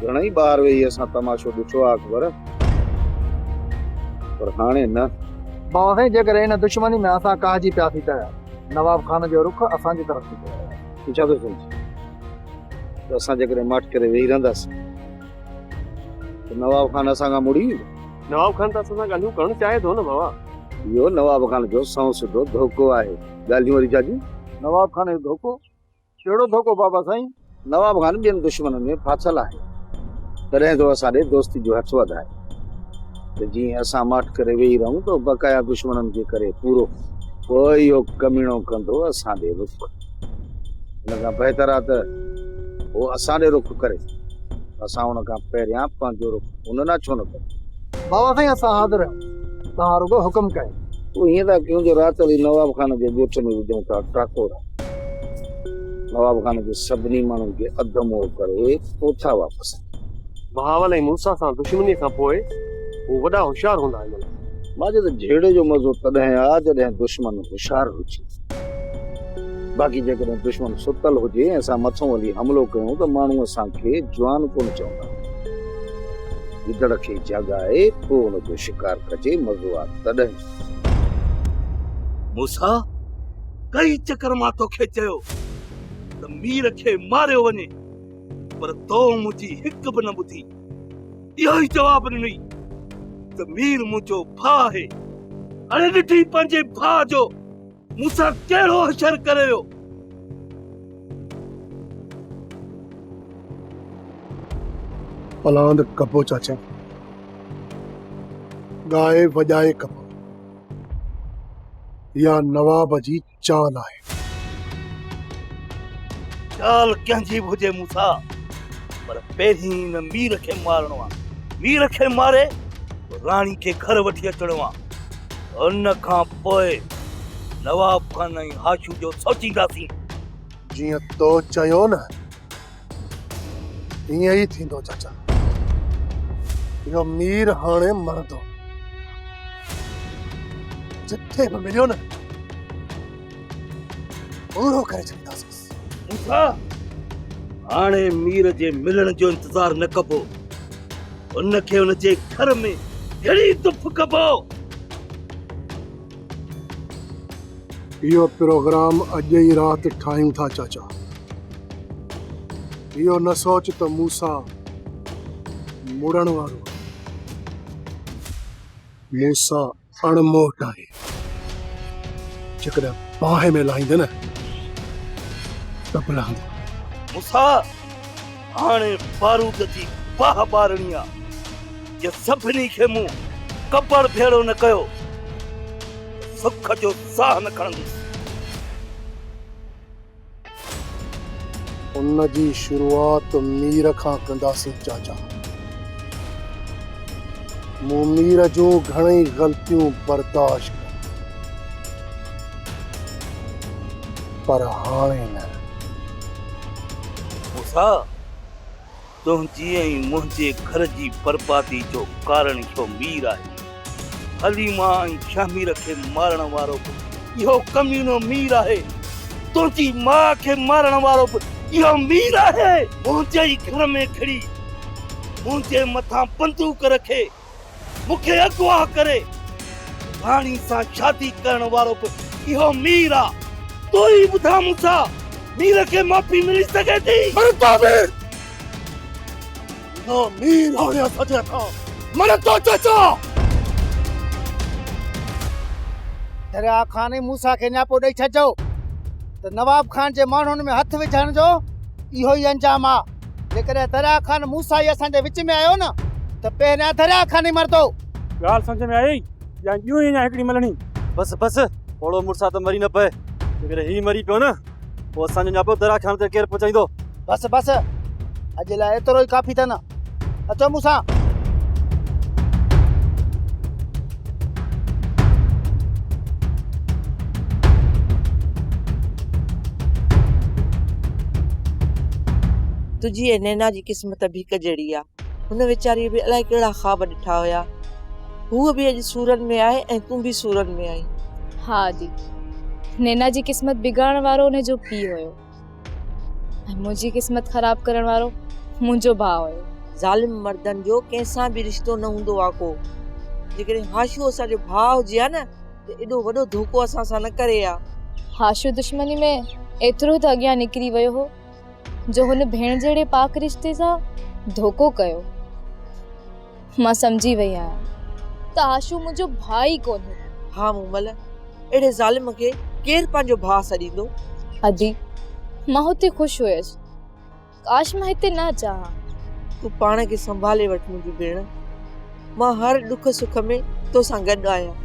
گهڻائي ٻاهر ويهي اسان تماشو ڏٺو آهي اڪبر پر هاڻي نه. بابا سائين جيڪڏهن ان دشمني ۾ اسان ڪاهجي پياسين ته نواب خان جو رخ اسان جي طرف ٿيندو. تون ڇا ٿو سمجهين ته اسان جيڪڏهن ماٺ ڪري ويهي رهنداسين ته نواب خان اسان کان مڙي ويندو. نواب خان ته اسان سان ڳالهيون ڪرڻ چاهي ٿو نه بابا. اهو نواب خان جو سنئون سڌو ڌوڪو آهي. ڳالهيون وري ڇا جون. نواب خان جو ڌوڪو؟ ڪهڙو ڌوڪو بابا سائين؟ نواب خان ٻين دشمنن ۾ ڦاٿل آهي، تڏهن ٿو اسان ڏي دوستي جو هٿ وڌائي ته جيئن اسان ماٺ ڪري ويهي رهون ته بقايا دشمنن کي ڪري پورو، پوء اهو ڪميڻو ڪندو اسان ڏي رخ، ان کان بهتر آهي ته هو اسان ڏي رخ ڪري، اسان ان کان پهريان پنهنجو رخ ان ڏانهن ڇو نه ڪريون؟ بابا سائين اسان حاضر آهيون، توهان رڳو حڪم ڪيو. پوء ائين ٿا ڪيون جو رات علي نواب خان جي ڳوٺ ۾ وجهون ٿا ٽاڪورا. نواب خان کي سڀني ماڻهن کي اڌ مئو ڪري اوٺا واپس آيا. بهاول ۽ موسيٰ سان دشمنيء کان پوء هو وڏا هوشيار هوندا هن لاء. ماجد، جهيڙي جو مزو تڏهن آ جڏهن دشمن هوشيار هجي. باقي جيڪڏهن دشمن ستل هجي ۽ اسان مٿئون هلي حملو ڪيون ته ماڻهو اسان کي جوان ڪونه چوندا. گدڙ کي جهڳائي پوء ان جو شڪار ڪجي، مزو آ تڏهن. موسيٰ! ڪئين چڪر مان توکي چيو ته مير کي ماريو وڃي پر تو منهنجي هڪ به نه ٻڌي اهو ئي جواب ڏني ته مير منهنجو ڀاء آهي اڙي ڏٺي پنهنجي ڀاء جو مون سان ڪهڙو حشر ڪري ويو پلاند ڪپو چاچا ڳائي وڄائي ڪپو يا نواب جي چال آهي. چال ڪنهن جي به هجي موسيٰ پر پهرين هن مير کي مارڻو آهي. مير کي ماري راڻي کي گهر وٺي اچڻو آهي. ان کان پوء نواب خان ۽ هاشو جو سوچينداسين. جيئن تو چيو نه. ائين ئي ٿيندو چاچا، اهو مير هاڻي مرندو، جتي به مليو نه پورو ڪري ڇڏينداسينس. موسيٰ، هاڻي مير جي ملڻ جو انتظار نه ڪبو، ان کي ان جي گهر ۾ گهڙي دڦ ڪبو. اهو پروگرام اڄ ئي رات ٺاهيون ٿا چاچا. اهو نه سوچ ته مون سان مڙڻ وارو آهي. مون سان اڻ موٽ آهي. جيڪڏهن باهه ۾ لاهيندين ته به لهندو. مون سان هاڻي بارود جي باهه ٻارڻي آ جي سڀني کي مون ڪپڙ ڀيڙو نه ڪيو ته سک جو ساهه نه کڻندس. ان جي شروعات مير کان ڪنداسين چاچا. مون مير جون گهڻئي غلطيون برداشت ڪيون پر هاڻي نه. موسيٰ! تنهنجي ۽ منهنجي گهر جي بربادي جو ڪارڻ اهو مير آهي. حليمه ۽ شهمير کي مارڻ وارو به اهو ڪمينو مير آهي. تنهنجي ماء کي مارڻ وارو به اهو مير آهي. منهنجي ئي گهر ۾ گهڙي منهنجي مٿان بندوق رکي. مون کي اغوا ڪري راڻي سان شادي ڪرڻ وارو به اهو مير آ. تون ئي ٻڌاء مون ڇا مير کي معافي ملي سگهي ٿي؟ مرتو مير! نه مير هاڻي سڏي ٿا مرتو چچا! دريا خان ۽ موسيٰ کي نياپو ڏئي ڇڏجو ته نواب خان جي ماڻهن ۾ هٿ وجهڻ جو اهو ئي انجام آ. جيڪڏهن دريا خان موسائي اسان جي وچ ۾ آيو نه ته پهريان دريا خان ئي مرندو. ڳالهه سمجهه ۾ آيئي يا ڄون ئي اڃا هڪڙي ملڻي؟ بس بس پوڙهو مڙسا ته مري نه پئي. جيڪڏهن هي مري پيو نه پوء اسان جو نياپو دريا خان تائين ڪير پهچائيندو؟ بس بس اڄ لاء ايترو ئي ڪافي اٿن. اچو مون سان. تنهنجي ۽ نينا جي قسمت به هڪ جهڙي آ. هن ويچاريء به الائي ڪهڙا خواب ڏٺا هيا. هوء به اڄ سورن ۾ آهي ۽ تون به سورن ۾ آهين. ها ادي، نينا جي قسمت بگاڙڻ وارو ان جو پيء هيو. ۽ منهنجي قسمت خراب ڪرڻ وارو منهنجو ڀاء هيو. ظالم مردن جو ڪنهن سان به رشتو نه هوندو آ ڪو. جيڪڏهن هاشو اسان جو ڀاء هجي ها نه ته ايڏو وڏو ڌوڪو اسان سان نه ڪري ها. هاشو دشمني ۾ ايترو ته اڳيان نڪري ويو هو جو هن ڀيڻ جهڙي پاڪ رشتي سان ڌوڪو ڪيو. مان سمجهي وئي آهيان ته آشو منهنجو ڀاء ئي ڪونهي. ها مومل، اهڙي ظالم کي ڪير پنهنجو ڀاء سڏيندو؟ ادي، مان هتي خوش هيس. ڪاش مان هتي نه اچان ها. تون پاڻ کي سنڀالي وٺ منهنجي ڀيڻ. مان هر ڏک سک ۾ تو سان گڏ آهيان.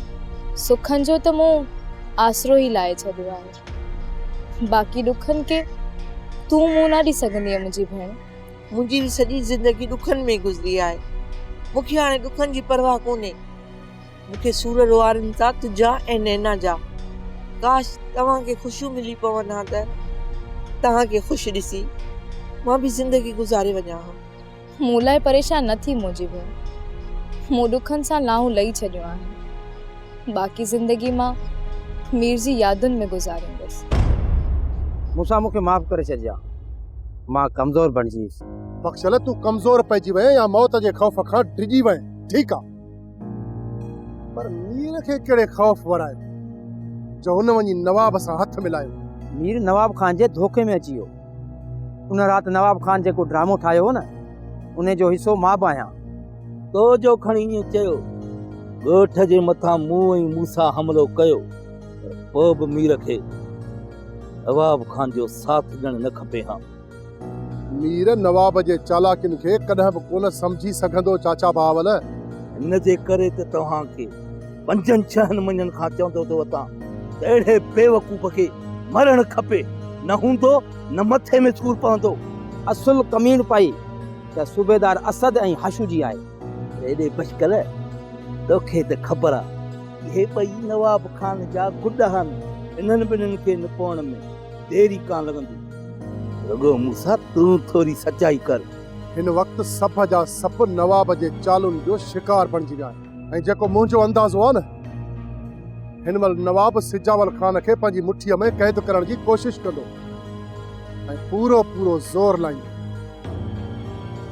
سکن جو ته مون آسرو ئي لائي ڇڏيو آهي. باقي ڏکن کي تون منهن نه ڏي سگهندينء منهنجي ڀيڻ. منهنجي به سڄي زندگي ڏکن ۾ گذري آهي مون کي هاڻي ڏکن جي پرواهه ڪونهي مون کي سور روئارين ٿا تنهنجا ۽ نينا جا ڪاش توهان کي خوشيون ملي پون ها ته توهان کي خوش ڏسي مان به زندگي گذاري وڃان ها مون لاء پريشان نه ٿي منهنجي ڀيڻ مون ڏکن سان لانهون لهي ڇڏيون آهن باقي زندگي مان مير جي يادن ۾ گذاريندس. مون سان مون کي معاف ڪري ڇڏجا مان ڪمزور بڻجي ويس. بخشل تون ڪمزور پئجي وئين يا موت جي خوف کان ڊڄي وئين ٺيڪ آ پر مير کي ڪهڙي خوف ورائي ٿو جو هن وڃي نواب سان هٿ ملايو. مير نواب خان جي ڌوڪي ۾ اچي ويو ان رات نواب خان جيڪو ڊرامو ٺاهيو هو نه انهي جو حصو مان به آهيان. تو جو کڻ ائين چيو. ڳوٺ جي مٿان مون ۽ موسيٰ حملو ڪيو پر پوء به مير کي نواب خان جو ساٿ ڏيڻ نه کپي ها. مير نواب جي چالاڪين کي ڪڏهن به ڪونه سمجهي سگهندو چاچا بهاول. ان جي ڪري ته توهان کي پنجن ڇهن مهينن کان چوندو ٿو وتان ته اهڙي بيوقوف کي مرڻ کپي نه هوندو نه مٿي ۾ سور پوندو. اصل ڪميڻ پائي. ته صوبيدار اسد ۽ حشو جي آهي. هيڏي بشڪل توکي ته خبر آ. اهي ٻئي نواب خان جا گڏ آهن. انهن ٻنهين کي نپوڻ ۾ دير ئي ڪانه لڳندي. رڳو موسيٰ تون ٿوري سچائي ڪر. هن وقت سڀ جا سڀ نواب جي چالن جو شڪار بڻجي ويا آهن. ۽ جيڪو منهنجو اندازو آهي نه هن مهل نواب سجاول خان کي پنهنجي مٺيء ۾ قيد ڪرڻ جي ڪوشش ڪندو ۽ پورو پورو زور لائيندو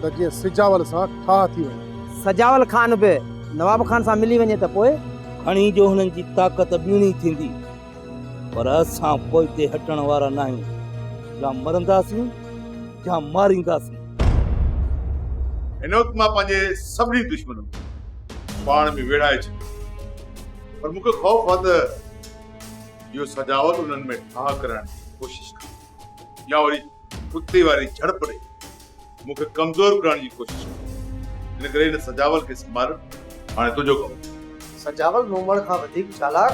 ته جيئن سجاول سان ٺاهه ٿي وڃي. سجاول خان به نواب خان سان ملي وڃي ته پوء؟ کڻي جو هنن جي طاقت ٻيڻي ٿيندي. پر اسان پوئتي هٽڻ وارا ناهيون، يا مرنداسين يا مارينداسين. هن وقت مان پنهنجي سڀني دشمنن کي پاڻ ۾ ويڙهائي ڇڏيو آهي، پر مون کي خوف آهي ته اهو سجاوت انهن ۾ ٺاهه ڪرائڻ جي ڪوشش ڪندو يا وري ڪتي واري جهڙپ ڏئي. مون کي ڪمزور ڪرڻ جي ڪوشش ڪئي آهي ان ڪري هن سجاول کي سنڀالڻ هاڻي تنهنجو ڪم آهي. سجاول نومڙ کان وڌيڪ چالاڪ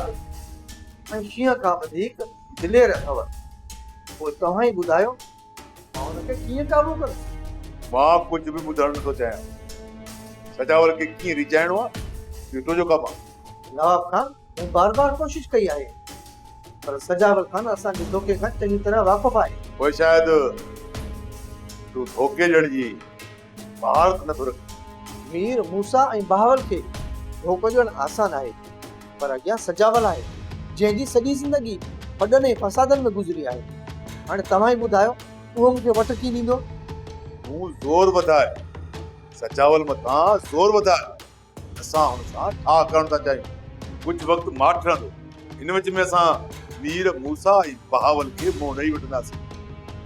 ۽ شينهن کان وڌيڪ دلير اٿو. پوء توهان ئي ٻڌايو مان ان کي ڪيئن قابو ڪران؟ مان ڪجهه به ٻڌڻ نٿو چاهيان. سجاول کي ڪيئن ريجهائڻو آهي اهو تنهنجو ڪم آهي. نواب خان مون بار بار ڪوشش ڪئي آهي. پر سجاول خان اسان جي ڌوڪي کان چڱي طرح واقف آهي. پوء شايد تون ڌوڪي ڏيڻ جي مهارت نٿو رکين. مير موسيٰ ۽ بهاول کي ڌوڪو ڏيڻ آسان آهي، پر اڳيان سجاول آهي، جنهن جي سڄي زندگي ڦڏن ۽ فسادن ۾ گذري آهي. هاڻي توهان ئي ٻڌايو، اهو مون کي وٽ ڪيئن ڏيندو؟ تون زور وڌاء، سجاول مٿان زور وڌاء. اسان هن سان ٺاهه ڪرڻ ٿا چاهيون. ڪجهه وقت ماٺ رهندو. ان وچ ۾ اسان مير موسيٰ ۽ بهاول کي منهن ڏئي وٺنداسين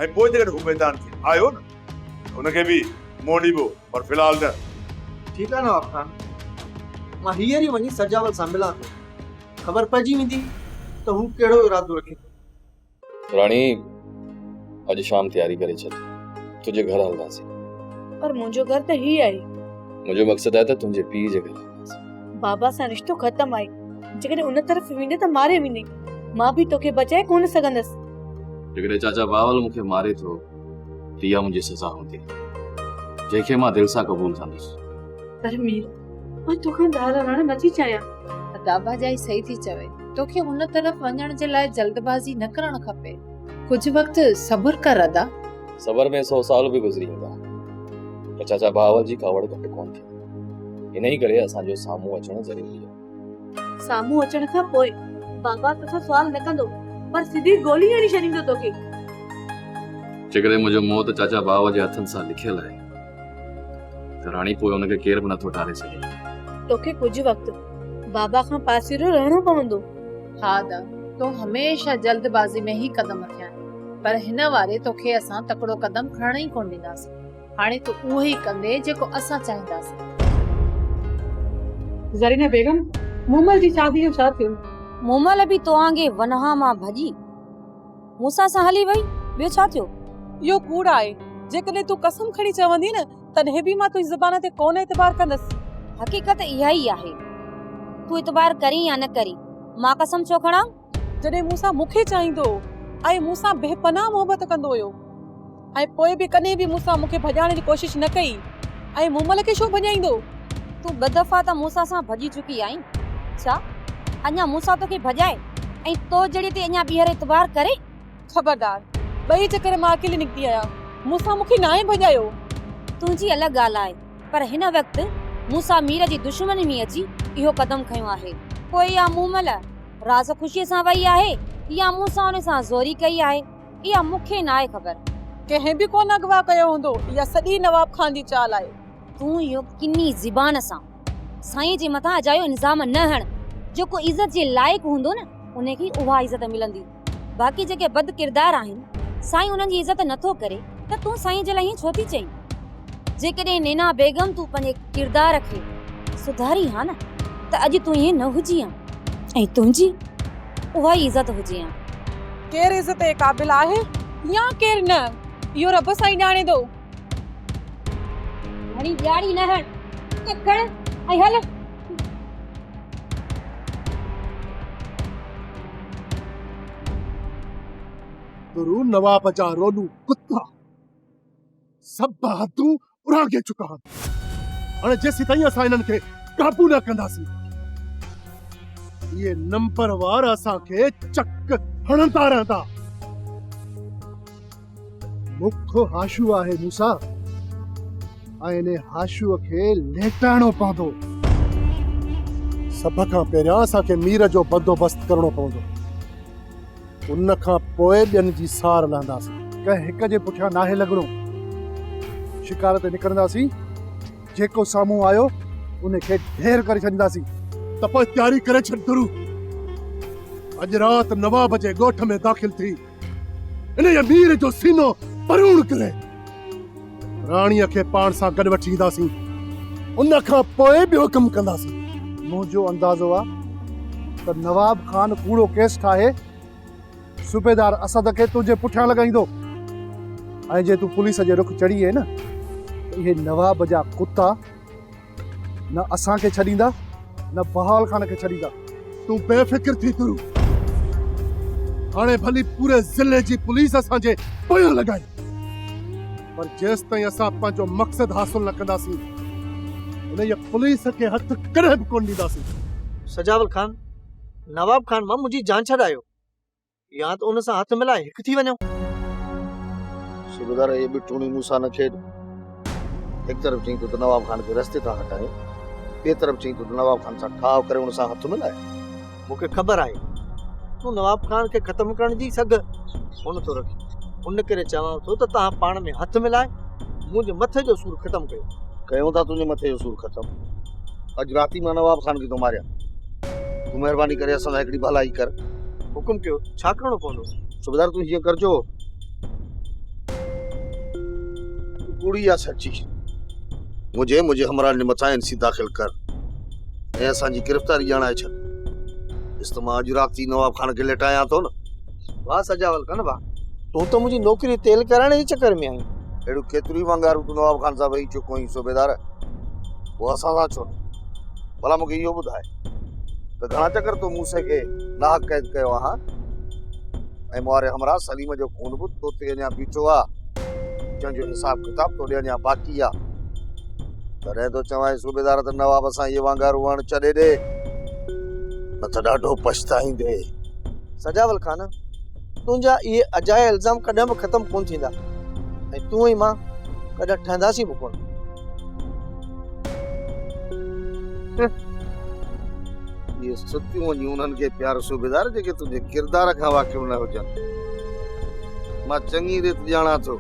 ۽ پوء جيڪڏهن هو ميدان ۾ آيو نه ته ان کي به منهن ڏيبو پر في الحال نه. ٺيڪ آهي نواب خان. مان هينئر ئي وڃي سجاول سان ملان ٿو. خبر پئجي ويندي ته هو ڪهڙو ارادو رکي ٿو. راڻي اڄ شام تياري ڪري ڇڏ تنهنجي گهر هلنداسين پر منهنجو گهر ته هي آهي منهنجو مقصد آهي ته تنهنجي پيء جي گهر بابا سان رشتو ختم آهي جيڪڏهن ان طرف ويندي ته ماري ويندي مان به توکي بچائي ڪونه سگهندس جيڪڏهن چاچا باول مون کي ماري ٿو ته اها منهنجي سزا هوندي جنهن کي مان دل سان قبول ڪندس پر مير مان توکان ڳالهائڻ نٿي چاهيان. ادا ڀاڄائي صحيح ٿي چوي. توکي ان طرف وڃڻ جي لاء جلدبازي نه ڪرڻ کپي. ڪجهه وقت صبر ڪر ادا. صبر ۾ سو سال به گذري ويندا پر چاچا ڀاء جي ڪاوڙ گهٽ ڪونه ٿيندي. انهي ڪري اسان جو سامهون اچڻ ضروري آهي. سامهون اچڻ کان پوء بابا توکان سوال نه ڪندو پر سڌي گولي هڻي ڇڏيندو توکي. جيڪڏهن منهنجو موت چاچا ڀاء جي هٿن سان لکيل آهي. ته راڻي پوء ان کي ڪير به نٿو ٽاري سگهي. توکي ڪجهه وقت بابا کان پاسيرو رهڻو پوندو. ها دا، تون هميشه جلدبازي ۾ ئي قدم رکيا آهن، پر هن واري توکي اسان تڪڙو قدم کڻڻ ئي ڪونه ڏينداسين. هاڻي تون اهو ئي ڪندين جيڪو اسان چاهينداسين. زرينه بيگم، مومل جي شاديء جو ڇا ٿيو؟ مومل به توهان جي ونهان مان ڀڄي. مون سان سان هلي وئي، ٻيو ڇا ٿيو؟ اهو ڪوڙ آهي، جيڪڏهن تون قسم کڻي چوندين نه، تڏهن به مان تنهنجي زبان تي ڪونه اعتبار ڪندس. حقيقت اها ئي آهي، تون اعتبار ڪرين يا نه ڪرين، مان قسم ڇو کڻان؟ جڏهن مون سان مون کي چاهيندو هو ۽ مون سان بي پناهه محبت ڪندو هيو. ۽ پوء به ڪڏهن به مون سان مون کي ڀڄائڻ جي ڪوشش نه ڪئي ۽ مون مل کي ڇو ڀڄائيندو؟ تون ٻه دفعا ته مون سان سان ڀڄي چڪي آهين، ڇا اڃا مون سان توکي ڀڄائي ۽ تو جڙي تي اڃا ٻيهر اعتبار ڪري؟ خبردار! ٻئي چڪر مان اڪيلي نڪتي آيان، مون سان مون کي ناهي ڀڄايو. تنهنجي الڳ ڳالهه آهي، پر هن وقت مون سان مير جي دشمني ۾ اچي اهو قدم کنيو آهي، پوء اها مون مل راز خوشيء سان وئي آهي يا مون سان ان سان زوري ڪئي آهي؟ اها مون کي ناهي خبر. ڪنهن به ڪونه اغوا ڪيو هوندو. اها سڄي نواب خان جي چال آهي. تون اهو ڪني زبان سان سائين جي مٿان اجايو الزام نه هڻ. جيڪو عزت جي لائق هوندو نه ان کي اها عزت ملندي. باقي جيڪي بدڪردار آهن سائين انهن جي عزت نٿو ڪري ته تون سائين جي لاء ائين ڇو ٿي چئين. جيڪڏهن نينا بيگم تون پنهنجي ڪردار کي سڌارين ها نه ته اڄ تون ائين نه هجين ها ۽ تنهنجي اها ئي عزت هجين ها. ڪير عزت جي قابل آهي يا ڪير نه اهو رب سائين ڄاڻي ٿو. گهڻي ڏياڙي نه هڻ ته کڻ ۽ هل. ترون نواب جا رولون ڪتا. سڀ حدون اڙانگي چڪا آهن. هاڻي جيسيتائين اسان انهن کي قابو نه ڪنداسين، اهي نمبروار اسان کي چڪ هڻندا رهندا. مک هاشو آهي موسيٰ ۽ ان هاشو کي ليٽائڻو پوندو. سڀ کان پهريان اسان کي مير جو بندوبست ڪرڻو پوندو. ان کان پوء ٻين جي سار لهنداسين. ڪنهن هڪ جي پٺيان ناهي لڳڻو. شڪار تي نڪرنداسين، جيڪو سامهون آيو، ان کي ڍير ڪري ڇڏينداسين. ته پوء تياري ڪري ڇڏ ٿرو. اڄ رات نواب جي ڳوٺ ۾ داخل ٿي، انهيء مير جو سينو پروڻ ڪري. راڻيء کي پاڻ سان گڏ وٺي اينداسين. ان کان پوء ٻيو ڪم ڪنداسين. منهنجو اندازو آ ته نواب خان ڪوڙو ڪيس ٺاهي صوبيدار اسد کي تنهنجي پٺيان لڳائيندو ۽ جي تون پوليس جي رخ چڙهي ايئين ته اهي نواب جا ڪتا نه اسان کي ڇڏيندا نه بهاول خان کي ڇڏيندا تون بي فڪر ٿي تون هاڻي ڀلي پوري ضلعي جي پوليس اسان جي پويان لڳائي پر جيستائين اسان پنهنجو مقصد حاصل نه ڪنداسين انهيء پوليس کي هٿ ڪڏهن به ڪونه ڏينداسين سجاول خان نواب خان مان منهنجي جان ڇڏايو يا ته ان سان هٿ ملائي هڪ ٿي وڃو. صوبيدار اهي بٺوڻيون مون سان نه کيڏ. هڪ طرف چئين ٿو ته نواب خان کي رستي تان هٽايو، ٻئي طرف چئين ٿو ته نواب خان سان ٺاهه ڪري ان سان هٿ ملائي. مون کي خبر آهي تون نواب خان کي ختم ڪرڻ جي سگهه ڪونه ٿو رکين، ان ڪري چوان ٿو ته توهان پاڻ ۾ هٿ ملائي منهنجي مٿي جو سور ختم ڪيو. ڪيون ٿا تنهنجي مٿي جو سور ختم. اڄ رات ئي مان نواب خان کي ٿو ماريان. تون مهرباني ڪري اسان سان هڪڙي ڀلائي ڪر. حڪم ڪيو، ڇا ڪرڻو پوندو؟ صوبيدار تون هيئن ڪر جو تون ڪوڙي يا سچي منهنجي ۽ منهنجي همراهن جي مٿان اين سي داخل ڪر ۽ اسان جي گرفتاري ڄاڻائي ڇڏ. ڏس ته مان اڄ رات ئي نواب خان کي ليٽايان ٿو نه. واهه سجاول کان واهه. تون ته منهنجي نوڪري تيل ڪرائڻ جي چڪر ۾ آهين. اهڙيون ڪيتريون ئي ونگارون تون نواب خان سان ويهي چڪو آهين صوبيدار، پوء اسان سان ڇو نه؟ ڀلا مون کي اهو ٻڌاء ته گهڻا چڪر تون موسي کي ناحق قيد ڪيو آ هان؟ ۽ مون واري همراهه سليم جو خون به تو تي اڃا بيٺو آ، جنهن جو حساب ڪتاب توڏي اڃا باقي آ. تڏهن ٿو چوانء صوبيدار ته نواب سان اهي وانگارون اڻ چڏي ڏي، نه ته ڏاڍو پڇتائيندين. سجاول خان! تنهنجا اهي اجايا الزام ڪڏهن به ختم ڪونه ٿيندا ۽ تون ۽ مان ڪڏهن ٺهنداسين به ڪونه. اهي ستيون وڃي انهن کي پيار صوبيدار جيڪي تنهنجي ڪردار کان واقف نه هجن. مان چڱي ريت ڄاڻان ٿو.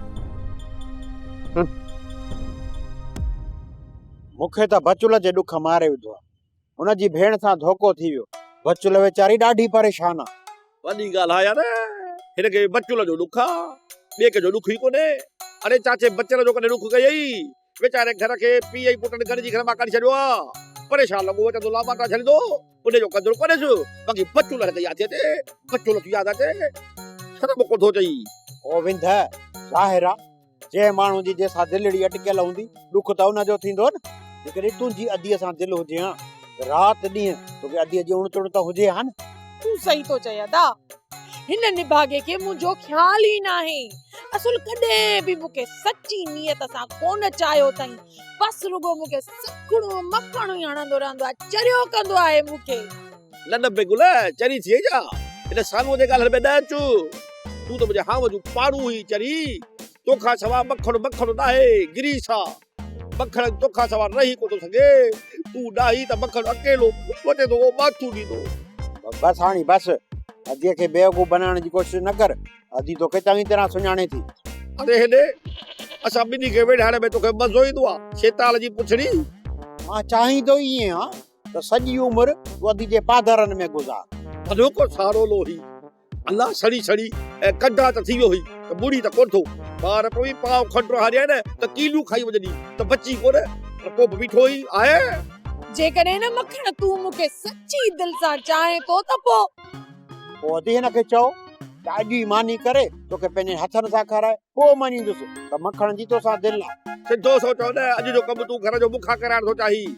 مون کي ته بچولا جي ڏک ماري وڌو آهي. هن جي ڀيڻ سان ڌوڪو ٿي ويو. بچل ويچاري ڏاڍي پريشان آ. وڏي ڳالهه آ يار. هن کي بچل جو ڏک آ. ٻئي ڪنهن جو ڏک ئي ڪونهي. اڙي چاچي بچل جو ڪڏهن ڏک ڪيئي. ويچاري گهر کي پيء ۽ پٽن گڏجي گهر مان ڪڍي ڇڏيو آ. پريشان لڳو ويٺس تو لاپاتا ڇڏيندو. انهيء جو قدر ڪونهيس. باقي بچل هن کي ياد ٿي اچي. بچل ٿي ياد اچي. سندس مکو ٿو چئي. او وينده، ظاهر آ جنهن ماڻهو جي جنهن سان دلڙي اٽڪيل هوندي، ڏک ته ان جو ٿيندو نه. جيڪڏهن تنهنجي اديء سان دل هجي ها ته رات ڏينهن توکي اديء جي اڻ تڻ ته هجي ها نه. تون صحيح ٿو چئين ادا. هن نڀاڳي کي منهنجو خيال ئي ناهي. اصل ڪڏهن به مون کي سچي نيت سان ڪونه چاهيو اٿئي. بس رڳو مون کي سکڻو مکڻو ئي هڻندو رهندو آهي. چريو ڪندو آهي مون کي. نه نه بي گل چري ٿئي ڇا هن سانوء تي ڳالهڻ ۾ نه اچ تون ته منهنجي هانء جون پاڙون هئين چري تو کان سوا مکڻ مکڻ ناهي گريس آ مکڻ تو کان سوا رهي ڪو ٿو سگهي تون ناهين ته مکڻ اڪيلو وٽي ٿو اهو ماٿو ڏيندو بس هاڻي بس اديء کي بيوقوف بنائڻ جي ڪوشش نه ڪر ادي توکي چڱي طرح سڃاڻي ٿي اڙي هيڏي اسان ٻنهي کي ويڙهائڻ ۾ توکي مزو ايندو آ شيطان جي پڇڙي مان چاهين ٿو ائين آ ته سڄي عمر وادي جي پاڌرن ۾ گذار. ٿڌوڪو سارولو هي الله سڙي سڙي ۽ ڪڍا ته ٿي ويو هي ته ٻوڙي ته ڪونه ٿو ٻار پوي پاء کن رهاڙيان نه ته ڪيليون کائي وڄندي ته بچي ڪونه پر پوء به ميٺو ئي آهي. جيڪڏهن نه مکڻ تون مون کي سچي دل سان چاهين ٿو ته پوء. پوء ادي هن کي چئو ته اڄ ئي ماني ڪري توکي پنهنجن هٿن سان کارائي پوء مڃيندس ته مکڻ جي توسان دل آهي. سڌو سوچ هو نه اڄ جو ڪم تون گهر جو مون کان ڪرائڻ ٿو چاهين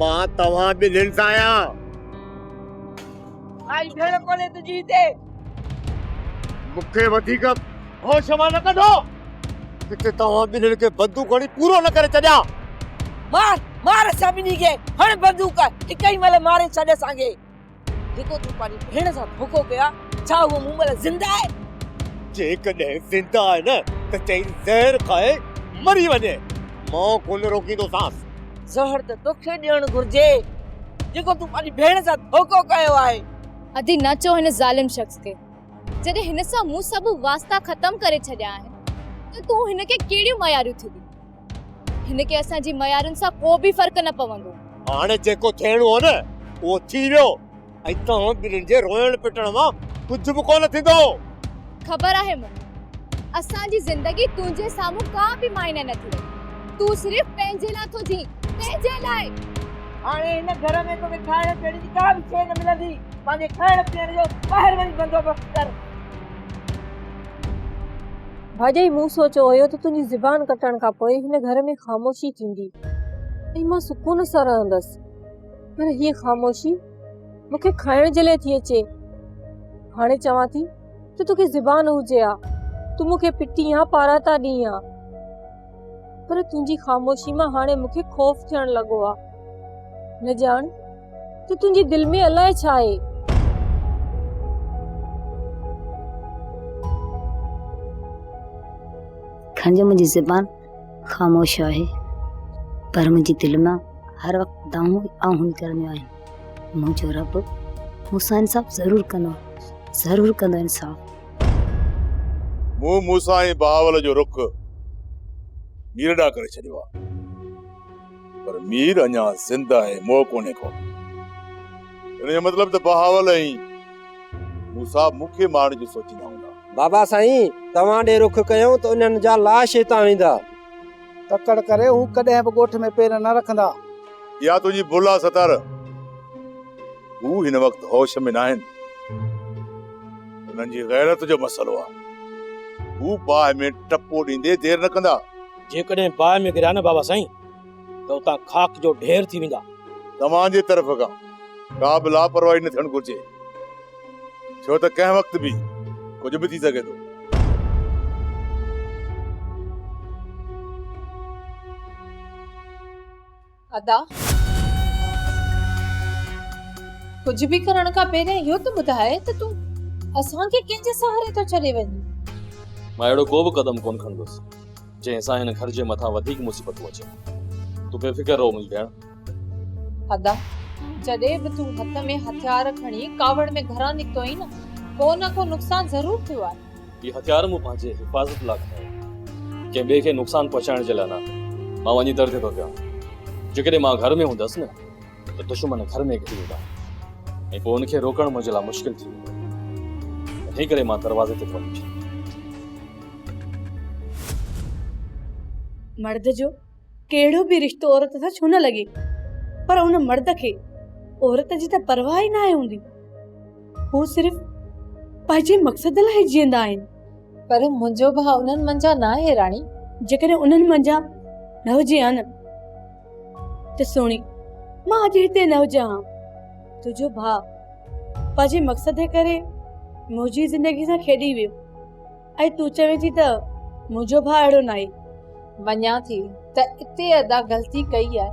مان توهان ٻنهين سان آهيان. ڪائي ڀيڻ ڪونهي تنهنجي هتي. مون کي وڌيڪ هوش مان نه ڪڍو، ڪٿي توهان ٻنهين کي بندوق هڻي پورو نه ڪري ڇڏيان. مار، مار اسان ٻنهي کي، هڻ بندوق، هڪ ئي مهل ماري ڇڏ اسان کي. ڌڪو ٿي پنهنجي ڀيڻ سان ڌوڪو ڪيو آهي، ڇا هوء مون مهل زنده آهي؟ جيڪڏهن زنده آهي نه ته چئين زهر کائي مري وڃي، مان ڪونه روڪيندوسانس. زهر ته توکي ڏيڻ گهرجي، جيڪو تون پنهنجي ڀيڻ سان ڌوڪو ڪيو آهي. ادي نه چئو هن ظالم شخص کي، جڏهن هن سان مون سڀ واسطا ختم ڪري ڇڏيا آهن ته تون هن کي ڪهڙيون مياريون ٿي ڏين؟ هن کي اسان جي معيارن سان ڪو به فرق نه پوندو. هاڻي جيڪو ٿيڻو هو نه اهو ٿي ويو ۽ توهان ٻنهين جي روئڻ پٽڻ مان ڪجهه به ڪونه ٿيندو. خبر آهي مون کي اسان جي زندگي تنهنجي سامهون ڪا به معني نه ٿي رهي. تون صرف پنهنجي لاء ٿو جئين، پنهنجي لاء. هاڻي هن گهر ۾ توکي کائڻ پيئڻ جي ڪا به شيء نه ملندي. پنهنجي کائڻ پيئڻ جو ٻاهر وڃي بندوبست ڪر. ڀاڄائي مون سوچيو هيو ته تنهنجي زبان ڪٽڻ کان پوء هن گهر ۾ خاموشي ٿيندي ۽ مان سڪون سان رهندس پر هيء خاموشي مون کي کائڻ جي لاء ٿي اچي هاڻي چوان ٿي ته توکي زبان هجي ها تون مون کي پٽين ها پاراتا ڏين ها پر تنهنجي خاموشي مان هاڻي مون کي خوف ٿيڻ لڳو آ. نه ڄاڻ ته تنهنجي دل ۾ الاء ڇا آهي. کان جو منهنجي زبان خاموش آهي پر منهنجي دل مان هر وقت دانهون آهون نڪرنديون آهن. منهنجو رب مون سان انصاف ضرور ڪندو ضرور ڪندو انصاف. مون موسيٰ ۽ بهاول جو رخ مير ڏانهن ڪري ڇڏيو آهي، پر مير اڃا زنده آهي، مئو ڪونهي ڪو. ان جو مطلب ته بهاول ۽ موسيٰ مون کي مارڻ جو سوچيندا هوندا. بابا سائين، توهان ڏي رخ ڪيون ته انهن جا لاش هتان ويندا. تڪڙ ڪري هو ڪڏهن به ڳوٺ ۾ پير نه رکندا. اها تنهنجي ڀل آهي ستار. هو هن وقت هوش ۾ ناهن. انهن جي غيرت جو مسئلو آ. هو باهه ۾ ٽپو ڏيندي دير نه ڪندا. جيڪڏهن باهه ۾ ڪريا نه بابا سائين ته اتان خاڪ جو ڍير ٿي ويندا. توهان جي طرف کان ڪا به لاپرواهي نه ٿيڻ گهرجي. ڇو ته ڪنهن وقت به ڪجهه به ٿي سگهي ٿو. ادا! ڪجهه به ڪرڻ کان پهرين اهو ته ٻڌاء ته تون اسان کي ڪنهن جي سهاري ٿو ڇڏي وڃين؟ مان اهڙو ڪو به قدم ڪونه کڻندس، جنهن سان هن گهر جي مٿان وڌيڪ مصيبتون اچن. تون بي فڪر رهو منهنجي ڀيڻ. ادا! جڏهن به تون هٿ ۾ هٿيار کڻي ڪاوڙ ۾ گهران نڪتو آهين نه، ڪو نه ڪو نقصان ضرور ٿيو آهي. هي هٿيار مون پنهنجي حفاظت لاء کڻيو آهي. ڪنهن ٻئي کي نقصان پهچائڻ جي لاء نه. مان وڃي درجي ٿو ڪيان. جيڪڏهن مان گهر ۾ هوندس نه ته دشمن گهر ۾ گهڙي ايندا ۽ پوء ان کي روڪڻ منهنجي لاء مشڪل ٿي ويندو. انهي ڪري مان دروازي تي ٿو بيٺان. مرد جو ڪهڙو به رشتو عورت سان ڇو نه لڳي پر ان مرد کي عورت جي ته پرواهه ئي ناهي هوندي. هو صرف پنهنجي مقصد لاء جيئندا آهن. پر منهنجو ڀاء انهن منجهان ناهي راڻي. جيڪڏهن انهن منجهان نه هجي ها نه ته سهڻي مان اڄ هتي نه هجان ها. تنهنجو ڀاء پنهنجي مقصد جي ڪري منهنجي زندگي سان کيڏي ويو. اي تون چوين ٿي ته منهنجو ڀاء اهڙو ناهي. مڃان ٿي ته اتي ادا غلطي ڪئي آهي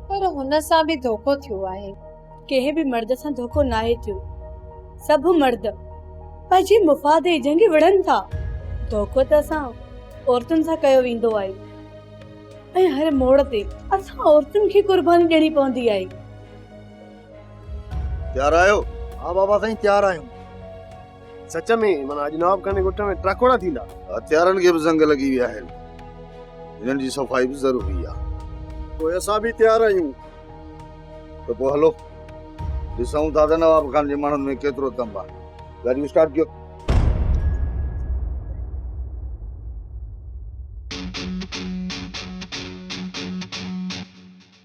پر هن سان به ڌوڪو ٿيو آهي. ڪنهن به مرد سان ڌوڪو ناهي ٿيو. سڀ مرد پنهنجي مفاد ۽ جنگي وڙهن ٿا. ڌوڪو ته اسان عورتن سان ڪيو ويندو آهي ۽ هر موڙ تي اسان عورتن کي قرباني ڏيڻي پوندي آهي. تيار آهيو؟ ها بابا سائين تيار آهيون. سچ ۾ معنيٰ اڄ نواب خان جي ڳوٺ ۾ ٽاڪوڙا ٿيندا. هٿيارن کي به زنگ لڳي ويا آهن. هنن جي صفائي به ضروري آهي. پوء اسان به تيار آهيون. ته پوء هلو ڏسون ٿا ته نواب خان جي ماڻهن ۾ ڪيترو دم آهي. گاڏيون اسٽارٽ ڪيو.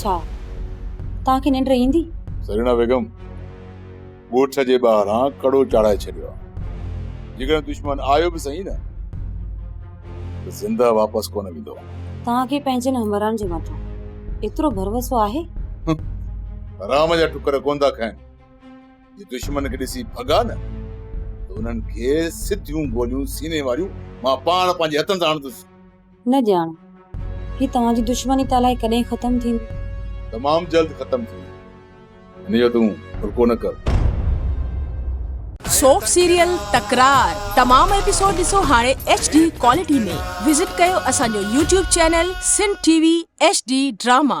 ڇا توهان کي ننڊ ايندي؟ سرينا بيگم، ڳوٺ جي ٻاهران ڪڙو چاڙهائي ڇڏيو آهي. جيڪڏهن دشمن آيو به سهي نه ته زنده واپس ڪونه ويندو. توهان کي پنهنجن همراهن جي مٿان ايترو ڀروسو آهي؟ حرام جا ٽڪر ڪونه ٿا کائن. جي دشمن کي ڏسي ڀڳا نه ته انهن کي سڌيون گوليون سيني واريون مان پاڻ پنهنجي هٿن سان هڻندس. نه ڄاڻ هي توهان جي دشمني ته الائي ڪڏهن ختم ٿيندي. تمام جلد ختم ٿيندي. هن جو تون ڦرڪو نه ڪر. سوپ سيريل تڪرار تمام ايپيسوڊ ڏسو هاڻي ايڇ ڊي ڪوالٽي ۾ وزٽ ڪيو اسان جو YouTube channel Sindh T V H D drama.